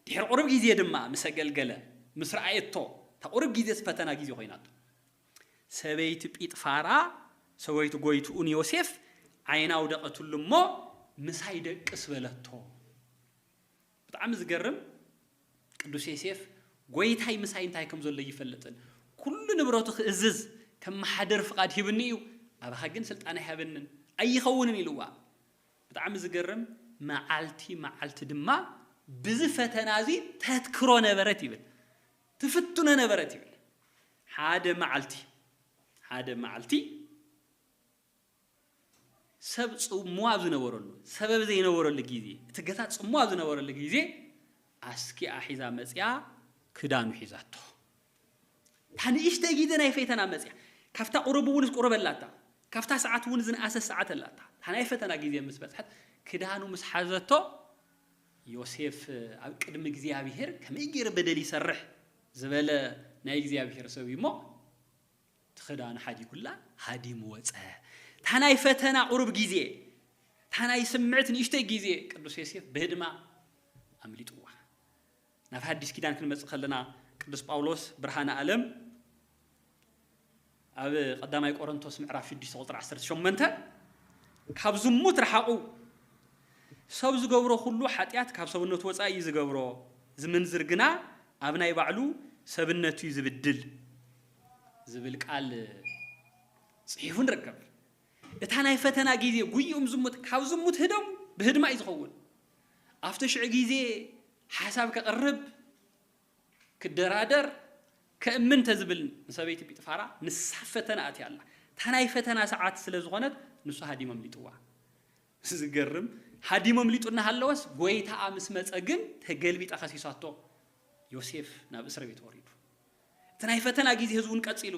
A: ድሕሪ ቁሩብ ግዜ ድማ ምስ ኣገልገለ፣ ምስ ረኣየቶ፣ እታ ቁሩብ ግዜስ ፈተና ግዜ ኮይናቶ። ሰበይቲ ጲጥፋራ፣ ሰበይቱ ጎይትኡ ንዮሴፍ ዓይና ኣውደቐትሉ እሞ፣ ምሳይ ደቅስ በለቶ። ብጣዕሚ ዝገርም ቅዱስ ዬሴፍ ጎይታይ ምሳይ እንታይ ከም ዘሎ እይፈልጥን ኩሉ ንብረቱ ክእዝዝ ከመሓድር ፍቃድ ሂብኒ እዩ ኣባኻ ግን ስልጣን ኣይሃበንን ኣይኸውንን ኢልዋ ብጣዕሚ ዝገርም መዓልቲ መዓልቲ ድማ ብዚ ፈተና እዚ ተትክሮ ነበረት ይብል ትፍትኖ ነበረት ይብል ሓደ መዓልቲ ሓደ መዓልቲ ሰብ ጽምዋ ኣብ ዝነበረሉ፣ ሰበብ ዘይነበረሉ ግዜ፣ እቲ ገታ ጽምዋ ኣብ ዝነበረሉ ግዜ ኣስኪኣ ሒዛ መጺኣ ክዳኑ ሒዛቶ። እታ ንእሽተይ ግዜ ናይ ፈተና መጺኣ፣ ካብታ ቁሩብ እውንስ ቁሩብ ኣላታ፣ ካብታ ሰዓት እውን ዝንኣሰት ሰዓት ኣላታ፣ እታ ናይ ፈተና ግዜ ምስ በጽሐት ክዳኑ ምስ ሓዘቶ፣ ዮሴፍ ኣብ ቅድሚ እግዚኣብሄር ከመይ ገይረ በደል ይሰርሕ ዝበለ ናይ እግዚኣብሄር ሰብ እዩ እሞ፣ እቲ ክዳኑ ሓዲጉላ ሃዲሙ ወጸ። እታ ናይ ፈተና ቁሩብ ግዜ፣ እታ ናይ ስምዕት ንእሽተይ ግዜ ቅዱስ ዮሴፍ ብህድማ ኣምሊጥዋ። ናብ ሓዲስ ኪዳን ክንመጽእ ከለና ቅዱስ ጳውሎስ ብርሃነ ኣለም ኣብ ቀዳማይ ቆሮንቶስ ምዕራፍ 6 ቁጽሪ 18 ካብ ዝሙት ረሓቑ ሰብ ዝገብሮ ኩሉ ሓጢኣት ካብ ሰብነቱ ወጻኢ እዩ ዝገብሮ፣ ዝምንዝር ግና ኣብ ናይ ባዕሉ ሰብነቱ እዩ ዝብድል። ዝብል ቃል ጽሒፉ ንርከብ። እታ ናይ ፈተና ጊዜ ጉይኡም ዝሙት ካብ ዝሙት ህደሙ ብህድማ እዩ ዝኸውን። ኣብቲ ሽዑ ጊዜ ሓሳብ ከቕርብ፣ ክደራደር፣ ከእምን እንተዝብል ንሰበይቲ ጲጥፋራ ንሳ ኣብ ፈተና ኣትያ ኣላ። እታ ናይ ፈተና ሰዓት ስለ ዝኾነት ንሱ ሃዲሙ ኣምሊጥዋ። ዝገርም ሃዲሙ ኣምሊጡ እናሃለወስ ጎይታኣ ምስ መጸ ግን ተገልቢጣ ከሲሳቶ ዮሴፍ ናብ እስርቤት ወሪዱ። እቲ ናይ ፈተና ግዜ እዚ እውን ቀጺሉ።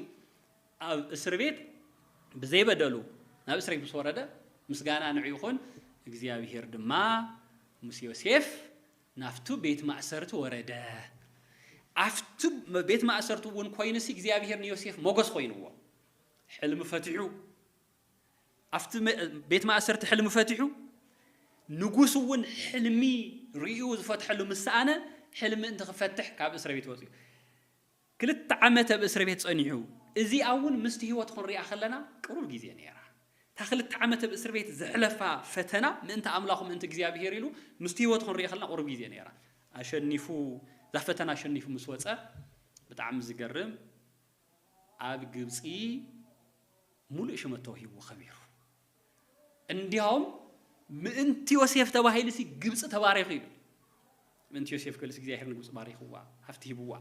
A: ኣብ እስርቤት ብዘይ በደሉ ናብ እስርቤት ምስ ወረደ ምስጋና ንዑ ይኹን እግዚኣብሄር ድማ ምስ ዮሴፍ ናብቱ ቤት ማእሰርቲ ወረደ። ኣብቲ ቤት ማእሰርቲ እውን ኮይኑሲ እግዚኣብሄር ንዮሴፍ ሞገስ ኮይንዎ ሕልሚ ፈቲሑ ኣብቲ ቤት ማእሰርቲ ሕልሚ ፈቲሑ፣ ንጉስ እውን ሕልሚ ርእዩ ዝፈትሐሉ ምስ ሰኣነ ሕልሚ እንትክፈትሕ ካብ እስረቤት ወጺኡ ክልተ ዓመት ኣብ እስረቤት ጸኒሑ። እዚኣ እውን ምስቲ ህይወት ክንሪኣ ከለና ቅሩብ ግዜ ነይራ። እታ ክልተ ዓመት ኣብ እስርቤት ዘሕለፋ ፈተና ምእንቲ ኣምላኹ ምእንቲ እግዚኣብሄር ኢሉ ምስቲ ህይወት ክንሪኣ ከለና ቅሩብ ግዜ ነይራ። ኣሸኒፉ እዛ ፈተና ኣሸኒፉ ምስ ወጸ ብጣዕሚ ዝገርም ኣብ ግብጺ ሙሉእ ሽመት ተውሂብዎ ከቢሩ። እንዲያውም ምእንቲ ዮሴፍ ተባሂሉሲ ግብጺ ተባሪኹ ይብል። ምእንቲ ዮሴፍ ክብልሲ እግዚኣብሔር ንግብጺ ባሪኽዋ፣ ሃፍቲ ሂብዋ።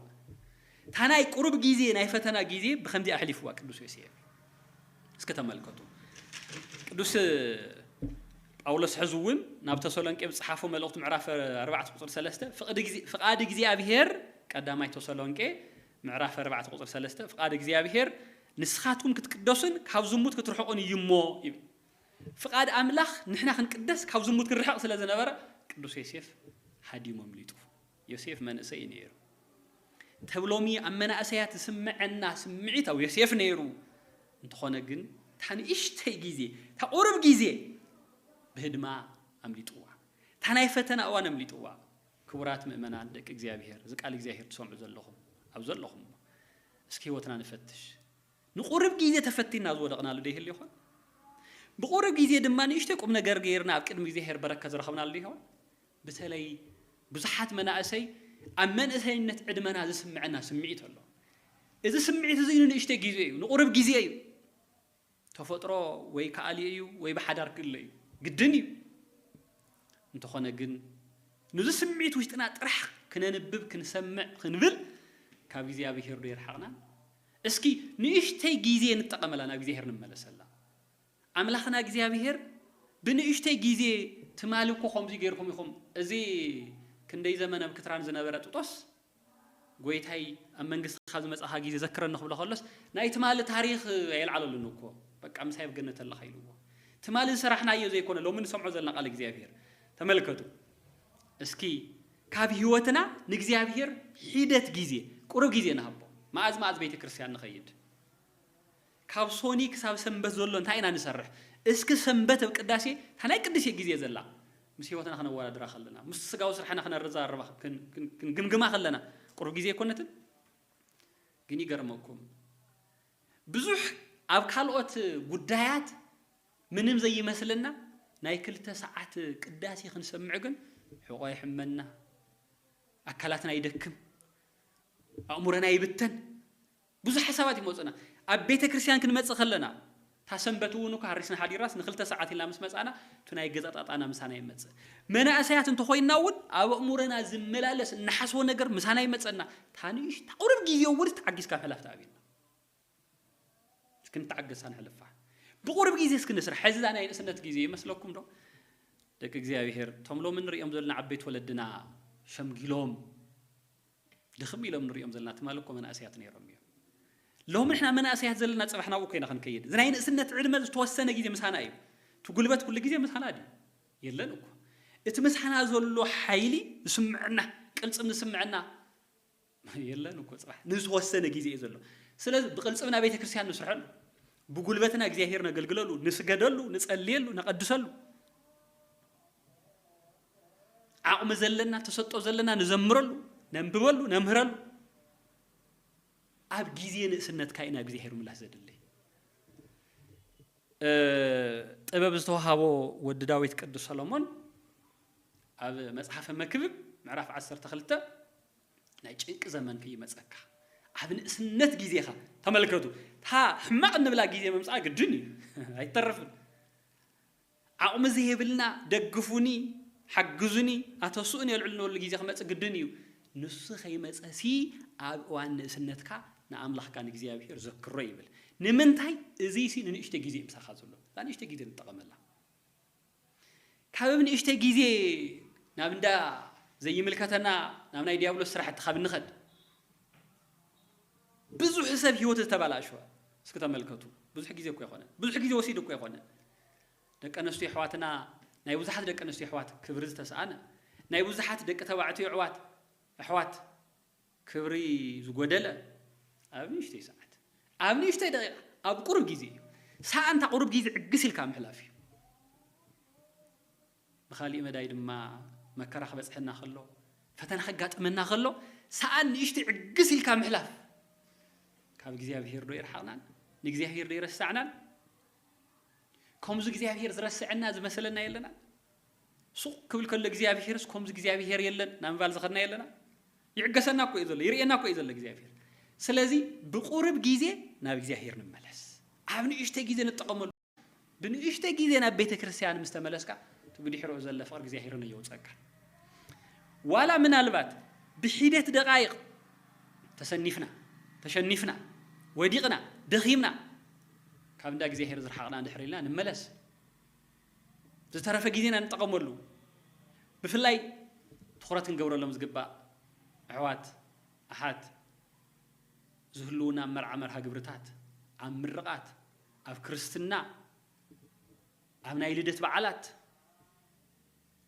A: እታ ናይ ቁሩብ ግዜ ናይ ፈተና ግዜ ብከምዚ ኣሕሊፍዋ ቅዱስ ዮሴፍ። እስኪ ተመልከቱ ቅዱስ ጳውሎስ ሕዚ እውን ናብ ተሰሎንቄ ዝጸሓፎ መልእኽቱ ምዕራፍ ኣርባዕተ ቁጽሪ ሰለስተ ፍቓድ እግዚኣብሔር ቀዳማይ ተሰሎንቄ ምዕራፍ ኣርባዕተ ቁጽሪ ሰለስተ ፍቓድ እግዚኣብሄር ንስኻትኩም ክትቅደሱን ካብ ዝሙት ክትርሕቑን እዩ እሞ ይብል። ፍቓድ ኣምላኽ ንሕና ክንቅደስ ካብ ዝሙት ክንርሕቕ ስለ ዝነበረ ቅዱስ ዮሴፍ ሃዲሙ ኣምሊጡ። ዮሴፍ መንእሰይ እዩ ነይሩ። ተብ ሎሚ ኣብ መናእሰያት ዝስምዐና ስምዒት ኣብ ዮሴፍ ነይሩ። እንተኾነ ግን እታ ንእሽተይ ግዜ እታ ቁሩብ ግዜ ብህድማ ኣምሊጥዋ። እታ ናይ ፈተና እዋን ኣምሊጥዋ። ክቡራት ምእመናን ደቂ እግዚኣብሔር እዚ ቃል እግዚኣብሔር ትሰምዑ ዘለኹም ኣብ ዘለኹሞ እስኪ ህይወትና ንፈትሽ ንቁርብ ግዜ ተፈቲና ዝወደቕናሉ ዶ ይህሉ ይኾን ብቁርብ ግዜ ድማ ንእሽተይ ቁም ነገር ገይርና ኣብ ቅድሚ እግዚኣብሔር በረከት ዝረኸብናሉ ዶ ይኸውን ብተለይ ብዙሓት መናእሰይ ኣብ መንእሰይነት ዕድመና ዝስምዐና ስምዒት ኣሎ እዚ ስምዒት እዚ ንንእሽተይ ግዜ እዩ ንቁርብ ግዜ እዩ ተፈጥሮ ወይ ክኣልዮ እዩ ወይ ብሓዳር ክእለ እዩ ግድን እዩ እንተኾነ ግን ንዚ ስምዒት ውሽጥና ጥራሕ ክነንብብ ክንሰምዕ ክንብል ካብ እግዚኣብሄር ዶ ይርሓቕናን እስኪ ንእሽተይ ግዜ ንጠቐመላ ናብ እግዚኣብሄር ንመለሰላ ኣምላኽና እግዚኣብሄር ብንእሽተይ ግዜ ትማሊ እኮ ከምዚ ገይርኩም ኢኹም እዚ ክንደይ ዘመን ኣብ ክትራን ዝነበረ ጥጦስ ጎይታይ ኣብ መንግስቲ ካብ ዝመጻኻ ግዜ ዘክረኒ ክብሎ ከሎስ ናይ ትማሊ ታሪኽ ኣየልዓለሉን እኮ በቃ ምሳይ ኣብ ገነት ኣለኻ ኢልዎ ትማሊ ዝሰራሕናዮ ዘይኮነ ሎሚ ንሰምዖ ዘለና ቃል እግዚኣብሔር ተመልከቱ እስኪ ካብ ህይወትና ንእግዚኣብሔር ሒደት ግዜ ቁሩብ ግዜ ንሃቦ መኣዝ መኣዝ ቤተ ክርስቲያን ንኸይድ ካብ ሶኒ ክሳብ ሰንበት ዘሎ እንታይ ኢና ንሰርሕ? እስኪ ሰንበት እብ ቅዳሴ እታ ናይ ቅድሴ ግዜ ዘላ ምስ ሕይወትና ክነወዳድራ ከለና፣ ምስቲ ስጋዊ ስርሐና ክነረዛርባ ክንግምግማ ከለና ቁሩብ ግዜ ኣይኮነትን? ግን ይገርመኩም ብዙሕ ኣብ ካልኦት ጉዳያት ምንም ዘይመስለና ናይ ክልተ ሰዓት ቅዳሴ ክንሰምዕ ግን ሕቖ ይሕመና፣ ኣካላትና ይደክም፣ ኣእሙረና ይብተን፣ ብዙሕ ሓሳባት ይመጹና ኣብ ቤተ ክርስትያን ክንመጽእ ከለና እታ ሰንበት እውን እኳ ሃሪስና ሓዲርናስ ንክልተ ሰዓት ኢልና ምስ መጻእና እቲ ናይ ገዛ ጣጣና ምሳና ይመጽእ መናእሰያት እንተኾይንና እውን ኣብ ኣእሙረና ዝመላለስ እንሓስቦ ነገር ምሳና ይመጸና እታ ንእሽታ ቁርብ ግዜ እውንስ ተዓጊስካ ምሕላፍ ተኣብየና እስኪ ንተዓገሳ ንሕልፋ ብቁርብ ግዜ እስኪ ንስራሕ ሕዚ እዛ ናይ ንእስነት ግዜ ይመስለኩም ዶ ደቂ እግዚኣብሔር እቶም ሎሚ ንሪኦም ዘለና ዓበይቲ ወለድና ሸምጊሎም ድኽም ኢሎም ንርእዮም ዘለና ትማሊ እኮ መናእሰያት ነይሮም እዮም ሎሚ ንሕና መናእሰያት ዘለና ጽባሕ ናብኡ ኮይና ክንከይድ እዚ ናይ ንእስነት ዕድመ ዝተወሰነ ግዜ ምሳና እዩ እቲ ጉልበት ኩሉ ግዜ ምሳና ድዩ የለን እኮ እቲ ምሳና ዘሎ ሓይሊ ዝስምዐና ቅልጽም ዝስምዐና የለን እኮ ጽባሕ ንዝተወሰነ ግዜ እዩ ዘሎ ስለዚ ብቅልጽምና ቤተ ክርስቲያን ንስርሐሉ ብጉልበትና እግዚኣብሔር ነገልግለሉ ንስገደሉ ንጸልየሉ ነቀድሰሉ ዓቕሚ ዘለና ተሰጦ ዘለና ንዘምረሉ ነንብበሉ ነምህረሉ ኣብ ግዜ ንእስነትካ ኢና ግዜ ሄሩ ምላስ ዘድልይ ጥበብ ዝተዋሃቦ ወዲ ዳዊት ቅዱስ ሰሎሞን ኣብ መጽሓፈ መክብብ ምዕራፍ 12 ናይ ጭንቂ ዘመን ክይመጸካ ኣብ ንእስነት ግዜኻ ተመልከቱ እታ ሕማቕ እንብላ ግዜ ምምፃኣ ግድን እዩ ኣይተርፍን ዓቕሚ ዘይብልና ደግፉኒ ሓግዙኒ ኣተስኡኒ የልዕሉኒበሉ ግዜ ክመጽእ ግድን እዩ። ንሱ ከይመጸሲ ኣብ እዋን ንእስነትካ ንኣምላኽካ ንእግዚኣብሄር ዘክሮ ይብል። ንምንታይ እዚሲ ንንእሽተይ ግዜ እዩ ምሳኻ ዘሎ እዛ ንእሽተይ ግዜ ንጠቐመላ። ካብ ንእሽተይ ግዜ ናብ እንዳ ዘይምልከተና ናብ ናይ ዲያብሎስ ስራሕቲ ካብ ንኸድ ብዙሕ ሰብ ህይወት ዝተበላሸወ እስኪ ተመልከቱ። ብዙሕ ግዜ እኮ ኣይኮነን ብዙሕ ግዜ ወሲዱ እኮ ኣይኮነን። ደቂ ኣነስትዮ ኣሕዋትና ናይ ብዙሓት ደቂ ኣነስትዮ ኣሕዋት ክብሪ ዝተስኣነ ናይ ብዙሓት ደቂ ተባዕትዮ ኣሕዋት ኣሕዋት ክብሪ ዝጎደለ ኣብ ንእሽተይ ሰዓት ኣብ ንእሽተይ ደቂቃ ኣብ ቁሩብ ግዜ እዩ ሰኣንታ ቁሩብ ግዜ ዕግስ ኢልካ ምሕላፍ እዩ ብካሊእ መዳይ ድማ መከራ ክበፅሐና ከሎ ፈተና ከጋጥመና ከሎ ሰኣን ንእሽቲ ዕግስ ኢልካ ምሕላፍ ካብ እግዚኣብሄር ዶ ይርሓቕናን ንእግዚኣብሄር ዶ ይረሳዕናን ከምዚ እግዚኣብሄር ዝረስዐና ዝመሰለና የለና ሱቕ ክብል ከሎ እግዚኣብሄርስ ከምዚ እግዚኣብሄር የለን ናብ ምባል ዝኸድና የለና ይዕገሰና እኮ እዩ ዘሎ ይርእየና እኮ እዩ ዘሎ እግዚኣብሄር ስለዚ ብቁርብ ግዜ ናብ እግዚኣብሄር ንመለስ ኣብ ንእሽተ ግዜ ንጠቐመሉ ብንእሽተ ግዜ ናብ ቤተ ክርስቲያን ምስ ተመለስካ እቲ ብድሕሪኡ ዘለ ፍቕሪ እግዚኣብሄር ነየውፀካ ዋላ ምናልባት ብሒደት ደቃይቕ ተሰኒፍና ተሸኒፍና ወዲቕና ደኺምና ካብ እንዳ እግዚኣብሔር ዝረሓቕና እንድሕር ኢልና ንመለስ ዝተረፈ ግዜና ንጠቐመሉ። ብፍላይ ትኹረት ክንገብረሎም ዝግባእ ኣሕዋት ኣሓት ዝህልዉና ኣብ መርዓ መርሃ ግብርታት፣ ኣብ ምርቓት፣ ኣብ ክርስትና፣ ኣብ ናይ ልደት በዓላት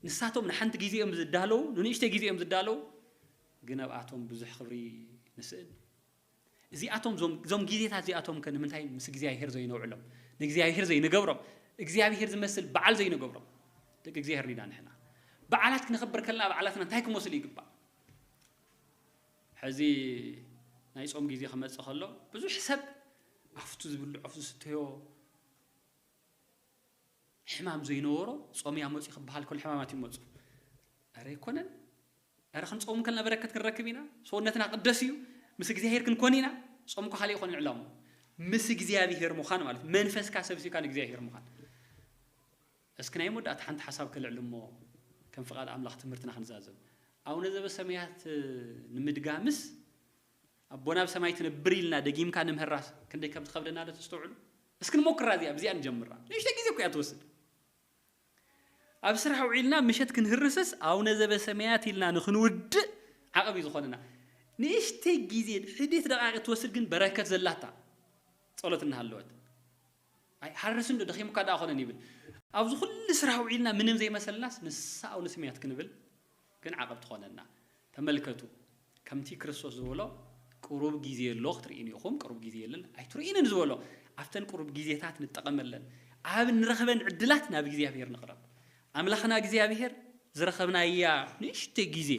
A: ንሳቶም ንሓንቲ ግዜ እዮም ዝዳለዉ፣ ንንእሽተይ ግዜ እዮም ዝዳለዉ፣ ግን ኣብኣቶም ብዙሕ ክብሪ ንስእን። እዚኣቶም ዞም ዞም ግዜታት እዚኣቶም ከ ንምንታይ ምስ እግዚኣብሄር ዘይነውዕሎም ንእግዚኣብሄር ዘይንገብሮም እግዚኣብሄር ዝመስል በዓል ዘይንገብሮም ደቂ እግዚኣብሄር ዲና ንሕና በዓላት ክነኽብር ከለና በዓላትና እንታይ ክመስሉ ይግባእ ሕዚ ናይ ጾም ግዜ ክመጽእ ከሎ ብዙሕ ሰብ ኣፍቱ ዝብልዖ ዝስተዮ ሕማም ዘይነበሮ ጾምያ መፅኡ ክበሃል ከሎ ሕማማት ይመፁ ኧረ ኣይኮነን እረ ክንጾም ከለና በረከት ክንረክብ ኢና ሰውነትና ቅደስ እዩ ምስ እግዚኣብሄር ክንኮን ኢና ጾም እኮ ካልእ ኣይኮነን ዕላምኡ ምስ እግዚኣብሄር ምዃን ማለት መንፈስካ ሰብሲብካ ንእግዚኣብሄር ምዃን እስኪ ናይ መወዳእታ ሓንቲ ሓሳብ ከልዕል እሞ ከም ፍቃድ ኣምላኽ ትምህርትና ክንዛዘም ኣቡነ ዘበሰማያት ንምድጋምስ ኣቦና ኣብ ሰማይ ትነብር ኢልና ደጊምካ ንምህራስ ክንደይ ከም ዝኸብደና ዶ ተስተውዕሉ እስኪ ንሞክራ እዚኣ ብዚኣ ንጀምራ ንእሽተይ ግዜ እኮ እያ ትወስድ ኣብ ስራሕ ውዒልና ምሸት ክንህርስስ ኣውነ ዘበሰመያት ኢልና ንክንውድእ ዓቕብ እዩ ዝኾነና። ንእሽተይ ግዜ ሕድት ደቓይቕ እትወስድ ግን በረከት ዘላታ ጸሎት እናሃለወት። ኣይ ሃርስን ዶ ደኺሙካ ደኣ ኮነን ይብል። ኣብዚ ኩሉ ስራሕ ውዒልና ምንም ዘይመሰልናስ ንሳ ኣውነ ስምያት ክንብል ግን ዓቐብ ትኾነና። ተመልከቱ፣ ከምቲ ክርስቶስ ዝበሎ፣ ቅሩብ ጊዜ ኣሎ ክትርእዩኒ ኢኹም፣ ቅሩብ ጊዜ የለን ኣይትርእዩንን ዝበሎ፣ ኣብተን ቅሩብ ጊዜታት ንጠቐመለን፣ ኣብ እንረኽበን ዕድላት ናብ እግዚኣብሔር ንቕረብ። ኣምላኽና እግዚኣብሔር ዝረኸብናያ ንእሽተይ ጊዜ፣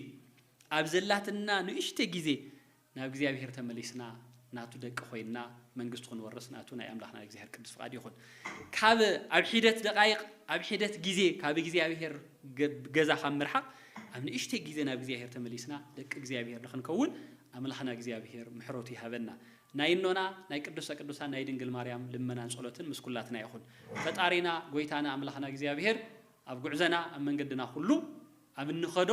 A: ኣብ ዘላትና ንእሽተይ ጊዜ ናብ እግዚኣብሄር ተመሊስና ናቱ ደቂ ኮይንና መንግስቱ ክንወርስ ናቱ ናይ ኣምላኽና ናይ እግዚኣብሄር ቅዱስ ፍቃድ ይኹን። ካብ ኣብ ሒደት ደቃይቅ ኣብ ሒደት ግዜ ካብ እግዚኣብሄር ገዛ ካብ ምርሓቅ ኣብ ንእሽተይ ግዜ ናብ እግዚኣብሄር ተመሊስና ደቂ እግዚኣብሄር ንክንከውን ኣምላኽና እግዚኣብሄር ምሕረቱ ይሃበና። ናይ እኖና ናይ ቅዱሰ ቅዱሳን ናይ ድንግል ማርያም ልመናን ጸሎትን ምስ ኩላትና ይኹን። ፈጣሪና ጎይታና ኣምላኽና እግዚኣብሄር ኣብ ጉዕዘና ኣብ መንገድና ኩሉ ኣብ እንኸዶ